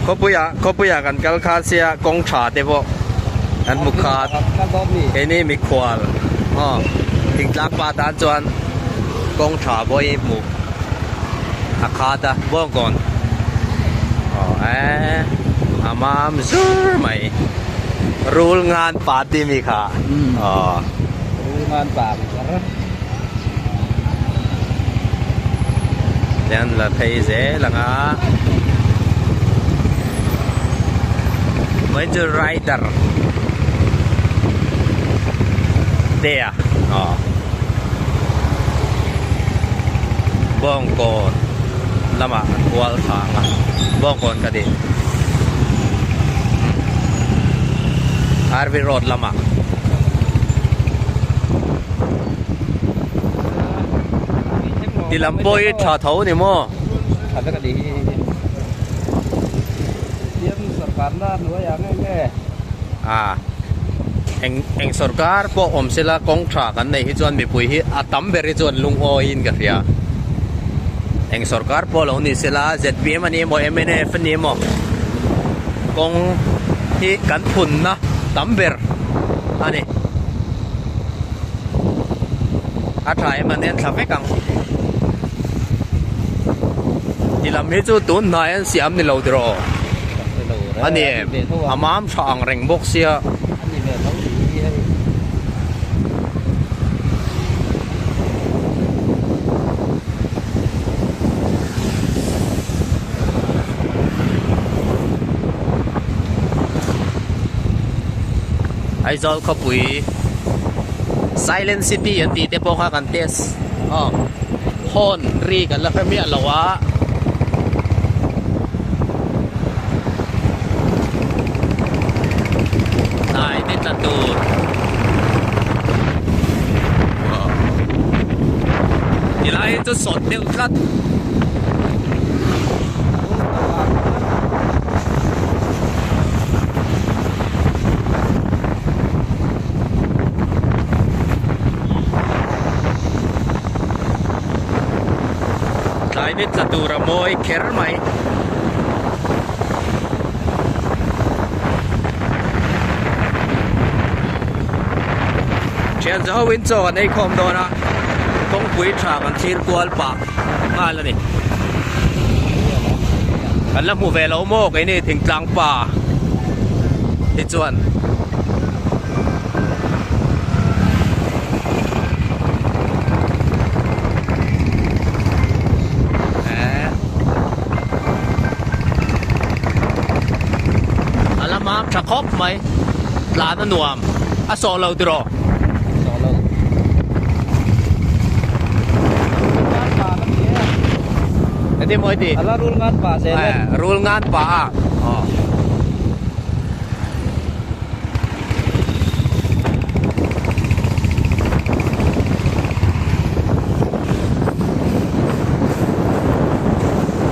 Khawpuia, khawpuia kan kal kha sia kawng tha te pawh kan hmu khat. Keini mikhual aw thingtlak pa tan chuan kawng tha pawh i hmu a khat a bawk gawn. Aw eh a mam zur mai. Rul ngan pa timi kha aw. Rul ngan pa. Tlan la phei zel ang a Mahindra Raider te a aw Bawngkawn lamah an kual thla ang a Bawngkawn ka tih RV road lamah. Ti lam pawh hi tha tho ni maw? Tha vek a ni hi. Siam sorkarna a hnuai ang em e. À, eng eng sorkar pawh awm se la kawng tha kan nei hi chuan mipui hi a tam ber hi chuan lungawiin ka hria. Eng sorkar pawh lo ni se la ZPM a ni emaw MNF a ni emaw. kawng hi kan phunna tam ber a ni a tha em a nen tha vek ang i lam hi chu tun hnai an siam ni lo tiraw a ni em a mam tha ang reng bawk sia Aizawl khawpui silent city an tih te pawh kha kan test aw horn ri kan la hre miah lo a hnai te tla tur ti lai hi chu sawt deuh-- tlat rum tho a climate tla tura mawi kher mai thian zau in chaw kan ei khawm dawn a. kawngpui tha kan thlir kual pah nghal a ni kan la hmu ve lo maw keini thing tlang pa hi chuan eeh a lama tha khawp mai tlan a nuam a sawh lo tiraw.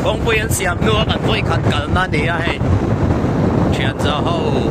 kawngpui an siam hnu a kan vawi khat kalna a ni a hei thian zau ho.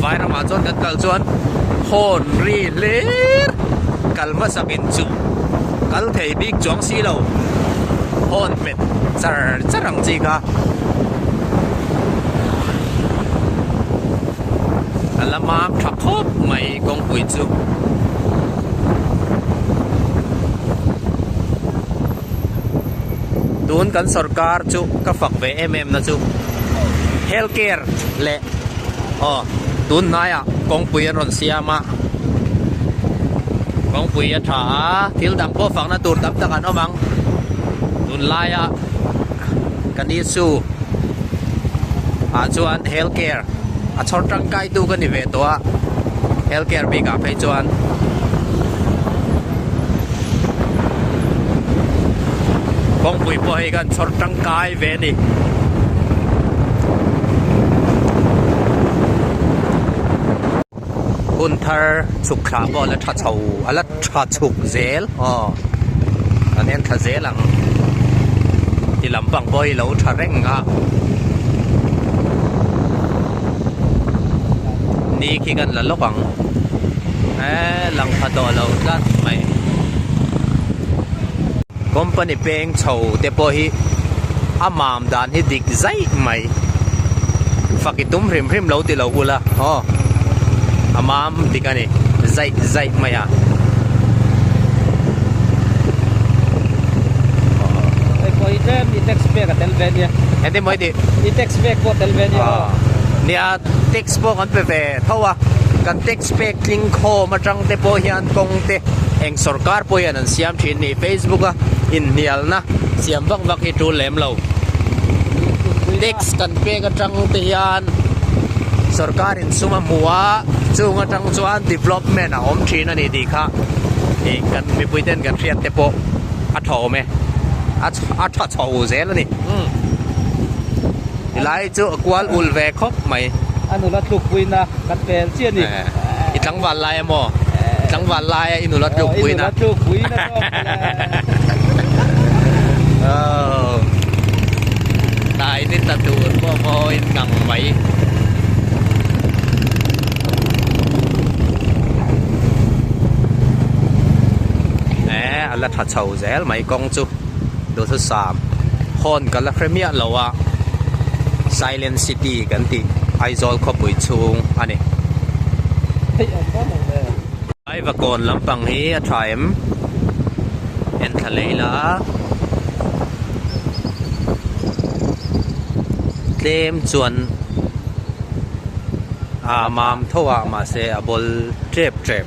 Vai ramah chuan kan kal chuan hawn ri hlir kal hmasak in chu kal thei bik chuang si lo, hawn hmet char char ang chi kha. A la mam tha khawp mai kawngpui chu. Tun kan sorkar chu ka fak ve em em na chu health care leh. Aw, tun hnaiah kawngpui an rawn siam a, kawngpui a tha a, thil dang pawh fakna tur tam tak an awm ang. Tun laia ka ni chu ah chuan health care a chhawr tangkaitu ka ni ve tawh a, health care bikah phei chuan kawngpui pawh hei khan chhawr tangkai. ve a ni. Hun thar chhuk thla pawh a la tha chho, a la tha chhuk zel aw an en tha zel ang. Ti lampang pawh i lo tha reng a. Ni khi kan la lawk ang. E lang tha tawh lo tlat mai. Company peng. Eng chho te pawh hi a mam dan hi dik zai mai. Fak i tum hrim hrim lo ti lo ula haw a mam dik a ni zai zai mai a. Pawhi tlem i text back a tel ve nia. Engtin mawi tih? I text back pawh tel ve nia haw. Nia a text pawh kan pe ve tho a, kan text back tling khawm atang te pawh hian kawngte eng sorkar pawh hian an siam thin ni. Facebook a inhnialna siam vak vak hi tul lem lo. Tax kan pek atang te hian sorkar in sum a hmu a, chung atang chuan development a awm thin a ni tih kha ih kan mipui ten kan hriat te pawh a thawm e. A a tha chho zel a ni. Tilai chu a kual ul ve khawp mai. A nula tluk puina kan pel chiah a ni. I tlangval lai emaw? I tlangval lai a i nula tluk puin a. Oh. Dai ni ta tu bo bo in ngang mai. Eh, ala tha chau. Zel mai kawng chu Duthu Sam hawn ka la hre miah lo a, Silent City kan tih Aizawl khawpui chhung a ni. Aivakawn lampang hi a tha em? Enthla lei la a, tlem chuan aa mam tho a, mahse a bawl ṭep ṭep.